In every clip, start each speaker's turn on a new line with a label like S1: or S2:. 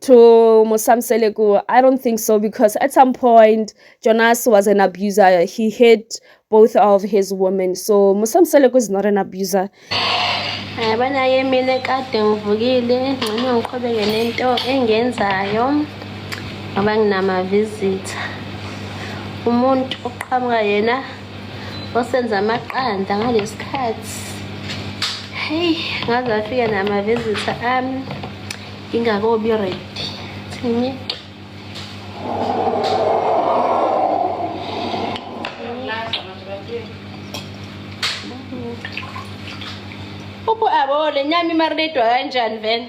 S1: to Musamsele Kuwa. I don't think so because at some point Jonas was an abuser. He hit both of his women. So Musamsele is not an abuser.
S2: Yabona ke mina kade ngivukile ngcono ngiqhubeke nento engenzayo ngoba nginama visitor. Umuntu oqhamuka yena osenza amaqanda ngalesikhathi hey ngaze afika namavizitha ami ngingakobi ready thini upho abole nyama imarinedwa kanjani vele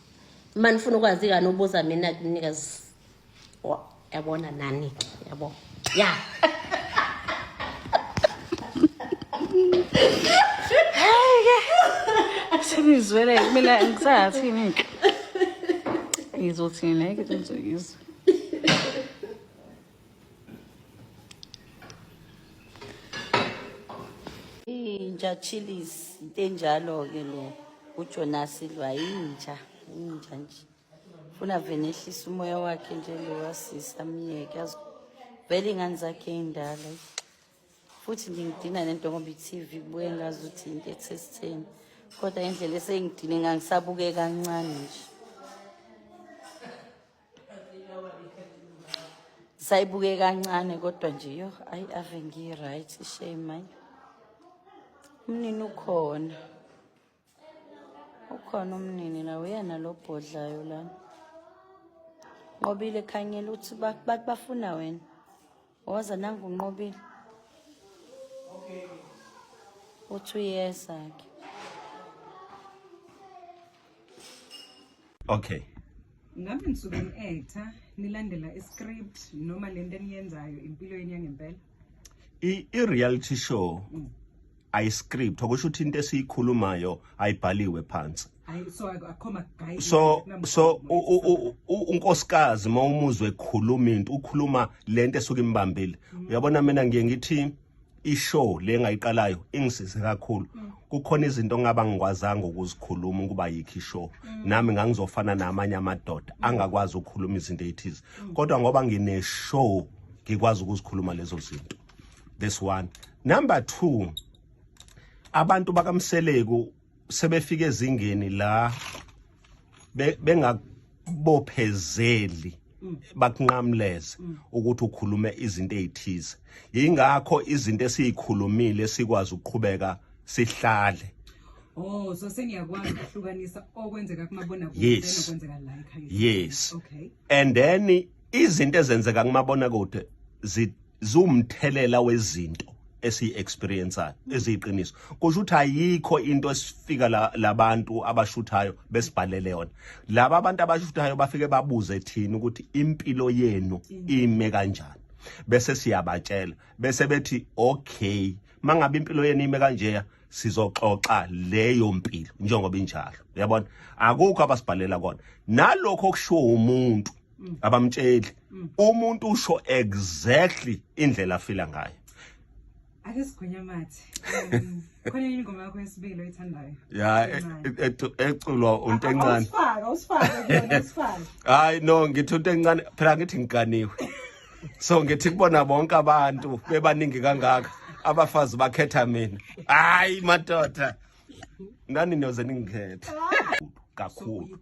S2: uma nifuna ukwazi kani ubuza mina kunikazi yabona nani yabo
S3: ya senizwele kumele ngisathini ke ngizothini ngeke ngizokizwa
S4: inja chillis into enjalo-ke lo ujonas lwa inja inja nje funa vele ehlisa umoya wakhe nje lo wasisi amyeke vele iy'ngane zakhe ey'ndala futhi ngingidina nento ngoba i-tv kubuye ngazi ukuthi into ethesitheni kodwa indlela esengidine ngangisabuke kancane nje sayibuke kancane kodwa nje yo ayi ave ngiyi-right ishame ayi umnini ukhona ukhona umnini la uyena lo bhodlayo lana nqobile khanyela ukuthi bafuna wena Woza nangu unqobile. Okay. Uthi uyeza ke.
S5: Okay. Ngabe
S6: nisuke ni-actor nilandela i-script noma lento eniyenzayo empilweni yangempela?
S5: I-reality show mm. ayiscript okusho ukuthi into esiyikhulumayo ayibhaliwe phansi so so unkosikazi uma umuzwe ekhuluma into ukhuluma lento esuke imbambile mm. uyabona mina ngiye ngithi ishow le ngayiqalayo ingisize kakhulu mm. kukhona izinto ngaba ngikwazanga ukuzikhuluma ukuba yikho ishow mm. nami ngangizofana namanye amadoda angakwazi ukukhuluma izinto ethize kodwa ngoba ngine show ngikwazi ukuzikhuluma lezo zinto this one number 2 abantu bakamseleku sebefika ezingeni la bengabophezeli bakunqamleze ukuthi ukhulume izinto ezithize ingakho izinto esizikhulumile sikwazi ukuqhubeka sihlale Oh
S6: so sengiyakwazi ukuhlukanisa okwenzeka kumabona kude nokwenzeka la ekhaya
S5: Yes okay and
S6: then
S5: izinto ezenzeka kumabona kude ziwumthelela wezinto esiyi-experienceayo eziyiqiniso kusho ukuthi ayikho into esifika labantu la abashuthayo besibhalele yona laba abantu abashuthayo bafike babuze thina ukuthi impilo yenu ime kanjani bese siyabatshela bese bethi okay mangabe impilo yenu ime kanjeya sizoxoxa leyo mpilo njengoba injalo uyabona akukho abasibhalela kona nalokho okushiwo umuntu mm. abamtsheli mm. umuntu usho exactly indlela afila ngayo ake
S6: sigwinya mathi um, khona yini ingoma yakho yesibili oyithandayo ya e,
S5: e, e, eculwa untencane usifaka usifaka
S6: kuyona usifaka hayi no
S5: ngithi untencane phela ngithi ngiganiwe so ngithi kubona bonke abantu bebaningi kangaka abafazi bakhetha mina hayi madoda nani niyoze ningikhetha kakhulu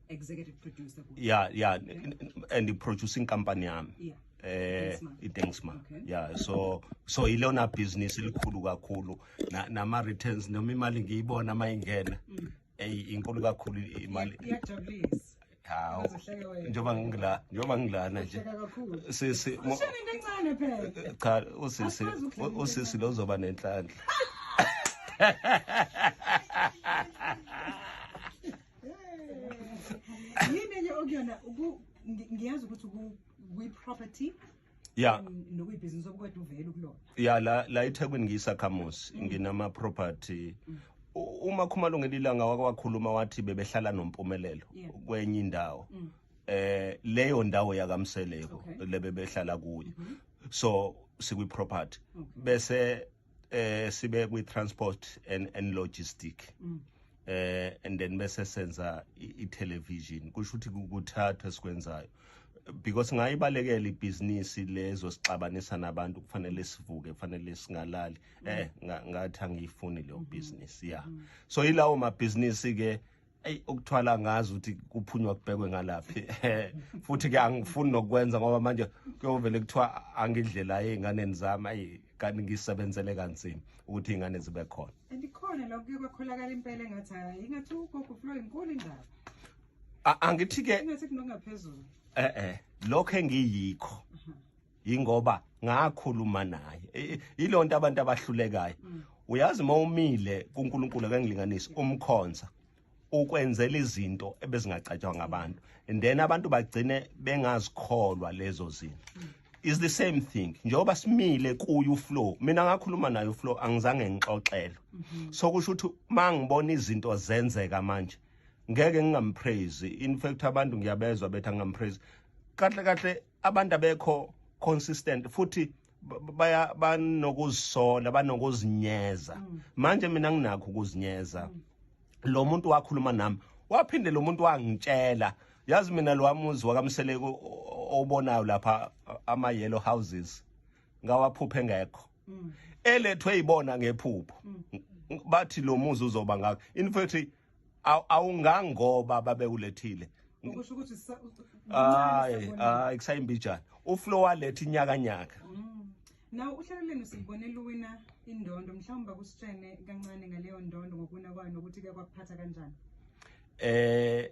S6: executive producer kuyo. yeah yeah
S5: Okay. n- n- and i-producing company yami Yeah. eh Dingsma.
S6: iDengsma Okay.
S5: yeah so so ilona business elikhulu kakhulu Na- nama returns noma imali ngiyibona mayingena Mm. eyi inkulu kakhulu i- imali Iyajabulisa. hawo Uzohleka
S6: wena.
S5: njengoba ngila njengoba ngilana nje Uhleka kakhulu. sisi mo- Ushona into encane
S6: phela. cha usisi
S5: Asikwazi ukuhlala u- usisi lo uzoba nenhlanhla
S6: yini enye okuyona uku- ngi- ngiyazi ukuthi ku- kwi-property ya
S5: um, nokuyibhizinisi obukade
S6: uvele ukulona ya la la
S5: eThekwini ngiyisakhamuzi nginama property U- uma khumalo ngelilanga wake wakhuluma wathi bebehlala nompumelelo Yeah. kwenye indawo Mm. eh leyo ndawo yakamseleko Okay. lebebehlala kuyo so sikwi property Okay. bese eh sibe kwi transport and and logistic mm. eh and then bese senza i television kusho ukuthi kuthatha esikwenzayo because ngayibalekela ibhizinisi lezo sixabanisa nabantu kufanele sivuke kufanele singalali eh ngathi angiyifuni leyo mm-hmm. business yeah mm-hmm. so ilawo mabhizinisi ke eyi ukuthwala ngazi ukuthi kuphunywa kubhekwe ngalaphi futhi ke angifuni nokwenza ngoba manje kuyovele kuthiwa angidlela ey'nganeni zami ayi kanti ngisebenzele kanzima ukuthi iy'ngane zibe khona andikhona lokho kuye
S6: kwakholakala impela engathi hayi ingathi ugogo flo inkulu indaba
S5: angithi-ke ingathi kunokungaphezulu
S6: e-e
S5: lokho engiyikho yingoba ngakhuluma naye yilonto abantu abahlulekayo mm. uyazi uma umile kuNkulunkulu akangilinganisi umkhonza ukwenzela izinto ebezingacatshwa ngabantu and then abantu bagcine bengazikholwa lezo zinto mm. is the same thing njengoba simile kuye uflow mina ngakhuluma naye uflow angizange ngixoxelo mm-hmm. so kusho ukuthi mangibona izinto zenzeka manje ngeke ngingampraise in fact abantu ngiyabezwa bethi angampraise kahle kahle abantu abekho consistent futhi baya banokuzisola banokuzinyeza mm. manje mina nginakho ukuzinyeza mm. lo muntu wakhuluma nami waphinde lo muntu wangitshela yazi mina lo wamuzi wakamseleko obonayo lapha ama yellow houses ngawaphuphe ngekho mm. elethwe yibona ngephupho bathi lo muzi uzoba ngakho in fact awungangoba babekulethile ukusho ukuthi
S6: hayi hayi
S5: kusayimbijana uflo waletha inyakanyaka mm. nawo
S6: uhlelo lenu silibone luwina indondo mhlawumbe kusitshene kancane ngaleyo ndondo ngokuwina kwayo nokuthi kuyakuphatha kanjani eh